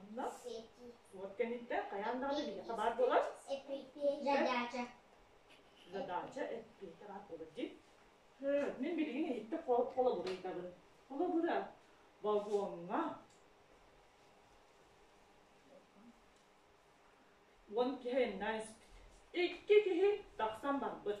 Онно уот кэнниттэн хайаан даҕаны биһиэхэ баар буолар. Задача. Задача эппиэтэ баар буолар дии. Мин билигин иһиттэ холобур ыйдабын. Холобура, вагоҥҥа уон киһи айаннаан испит. Икки киһи тахсан барбыт.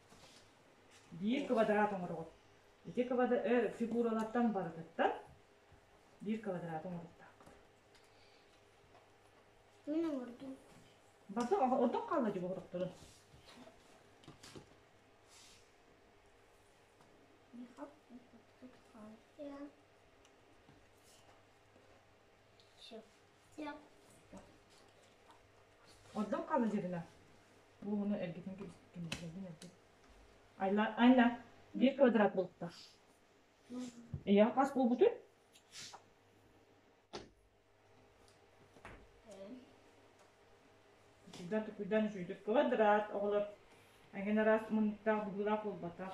Биир квадрат оҥороҕут. Ити квадрат өр фигуралартан барытыттан биир квадрат оҥоруктааххыт. Мин оҥордум. Барда ордук хаалла дьэ оҥорохторун. Все. Ордон халадьыгына. Буону эргитин кимилэрдин эргит. Айла, Айна, биир квадрат булутта. Ийэ хас буолбутун? Күрдэн күрдэн үчүйдүк квадрат оҕолор эҥин араас муннуктаах быһыылаах буолбатах.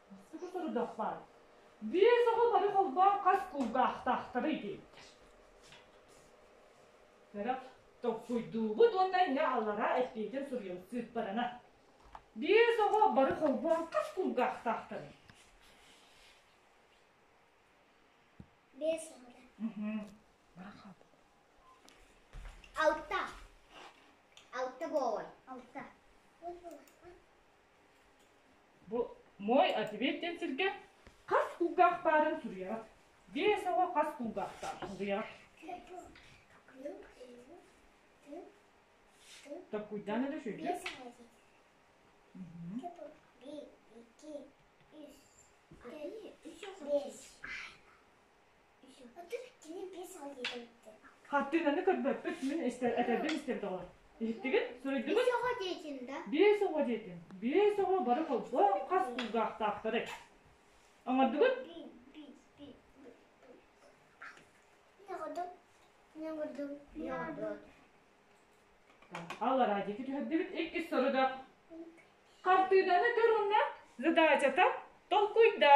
Бастакы сорудахпар биэс оҕо бары холбоон хас кулгаахтаахтарый диэбиттэр. Бэрэх толкуйдуубут уонна инньэ аллараа эппиэтин суруйан сыыппарана. Биэс оҕо бары холбоон хас кулгаахтаахтарый? Биэс оҕо. Алта. Алта буолар. Алта. Бу мой ответ диэн сиргэ хас кулгаах баарын суруйаҕыт. Биэс оҕо хас кулгаахтаах суруйаҕыт. Такуйдаана да шөйдө. Bir, iki, üç, dört, beş. Хартыынаны көрбөппүт, мин истэр, этербин истэбит оҕолор. Иһиттигин, суруйдугут? Биэс оҕо диэтин да? Биэс оҕо диэтин. Биэс оҕо бары холбоох хас кулгаахтаахтары. Оҥордугут? Аллараа диэки түһэрдибит иккис сорудах. Хартыынаны көрүннэ, задачата толкуйда.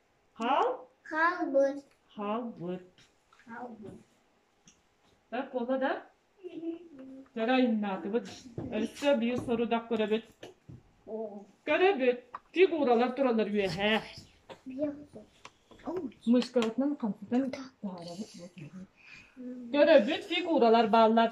Хаалбыт. Хаалбыт. Хаалбыт. Да куола да көрө айаннаатыбыт. Өссө биир сорудах көрөбүт. Көрөбүт. Фигуралар туралар үөһээ. Мышкалатынан хамсатан таһаарабыт. Көрөбүт фигуралар бааллар.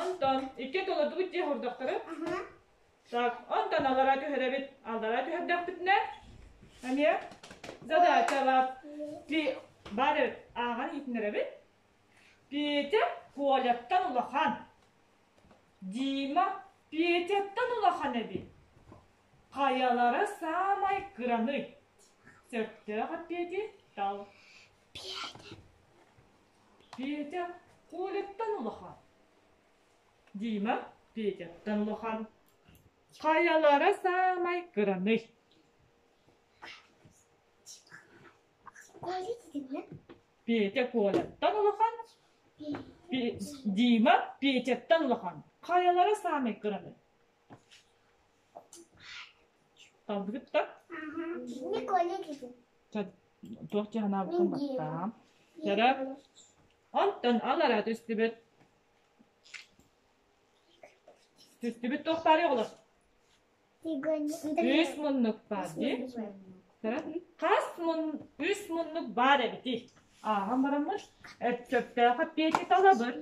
Онтон икки толордубут дьиэ хурдахтары. Так, онтон алара түһэрэбит. Алара түһэрдэхпитинэ, эмиэ задача бар. Ти бары ааҕан иитиннэрэбит. Петя Коляттан улахан. Дима Петяттан улахан эбит. Хайалары саамай кыраны. Сөптөөх от Пети тал. Петя Коляттан улахан. Дима Петяттан улахан. Хайалара саамай кыраный? Петя Коляттан улахан. Дима Петяттан улахан. Хайалара саамай кыраный? Талбыгыт да? Туох дьаһанаабытын баттаам. Кэрэ, онтон алара түстүбүт. Түстүбүт туохтаары оҕолор? Үс муннук баар дии. Хас мун, үс муннук баар эбити. Ааһан бараммыт, өттөптөөҕө пиэти талабыр.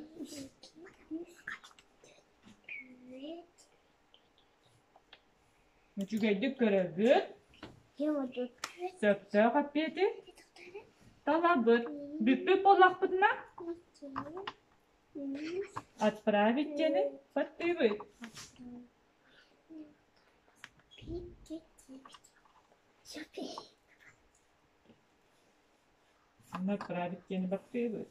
Үчүгэйдик көрөргүт, сөптөөх эппиэти талабыт. Бүппүт буоллахпытына, отправить дьиэни баттыыбыт. Отправить дьиэни баттыыбыт.